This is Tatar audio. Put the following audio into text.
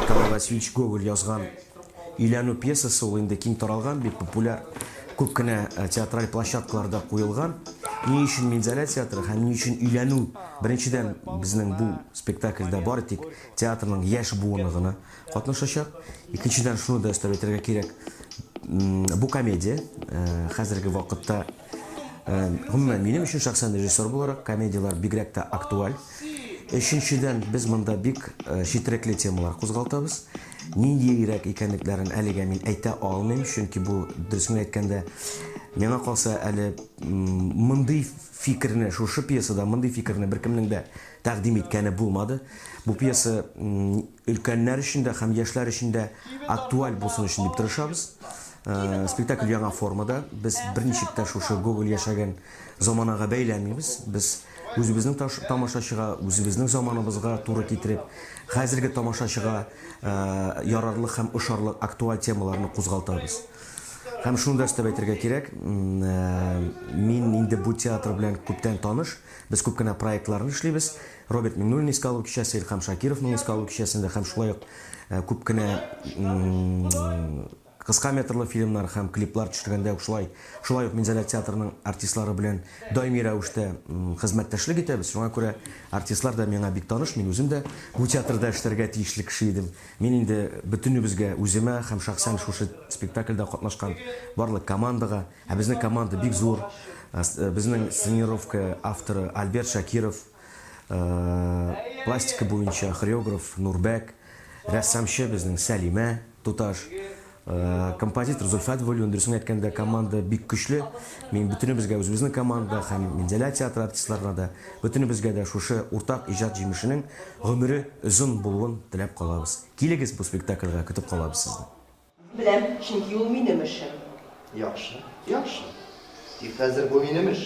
Николай Васильевич Гоголь язган Өйләнү пьесасы ул инде киң таралган, бик популяр, күп кенә э, театраль площадкаларда куелган. Ни өчен Минзәлә театры һәм ни өчен өйләнү? Беренчедән, безнең бу спектакльдә бары тик театрның яшь буыны гына катнашачак. Икенчедән, шуны да өстәп әйтергә кирәк, бу комедия э, хәзерге вакытта Гомумән, минем өчен шәхсән режиссер буларак, комедияләр бигрәк тә актуаль. Өченчедән, без монда бик четерекле темалар кузгалтабыз. Ниндиерәк икәнлекләрен әлегә мин әйтә алмыйм, чөнки бу, дөресен әйткәндә, миңа калса, әле мондый фикерне, шушы пьесада мондый фикерне беркемнең дә тәкъдим иткәне булмады. Бу пьеса Өлкәннәр өчен дә һәм яшьләр өчен дә актуаль булсын өчен дип тырышабыз. Спектакль яңа формада. Без берничек тә шушы Гоголь яшәгән заманага бәйләмибез. Без үзебезнең тамашачыга, үзебезнең заманыбызга туры китереп, хәзерге тамашачыга ярарлык һәм ошарлык актуаль темаларны кузгалтабыз. Һәм шуны да өстәп әйтергә кирәк, мин инде бу театр белән күптән таныш. Без күп кенә проектларны эшлибез. Роберт Миңнуллин искә алу кичәсе, Илхам Шакировның искә алу кичәсендә һәм шулай ук күп кенә кыска метрлы фильмнар һәм клиплар төшергәндә үк шулай шулай ук Минзәлә театрының артистлары белән даими рәвештә хезмәттәшлек итәбез. Шуңа күрә артистлар да миңа бик таныш, мин үзем дә бу театрда эшләргә тиешле кеше идем. Мин инде бөтенебезгә, үземә һәм шәхсән шушы спектакльдә катнашкан барлык командага, Ә безнең команда бик зур. Безнең сценировка авторы Альберт Шакиров, пластика буенча хореограф Нурбәк, рәссамчы безнең Сәлимә туташ, композитор Зөлфәт Вәлиуллин. Дөресен әйткәндә, команда бик көчле. Мин бөтенебезгә, үзебезнең команда һәм Минзәлә театры артистларына да, бөтенебезгә дә шушы уртак иҗат җимешенең гомере озын булуын теләп калабыз. Килегез бу спектакльгә, көтеп калабыз сезне! Беләм, чөнки ул минем эшем. Яхшы, яхшы. Тик хәзер бу минем эш.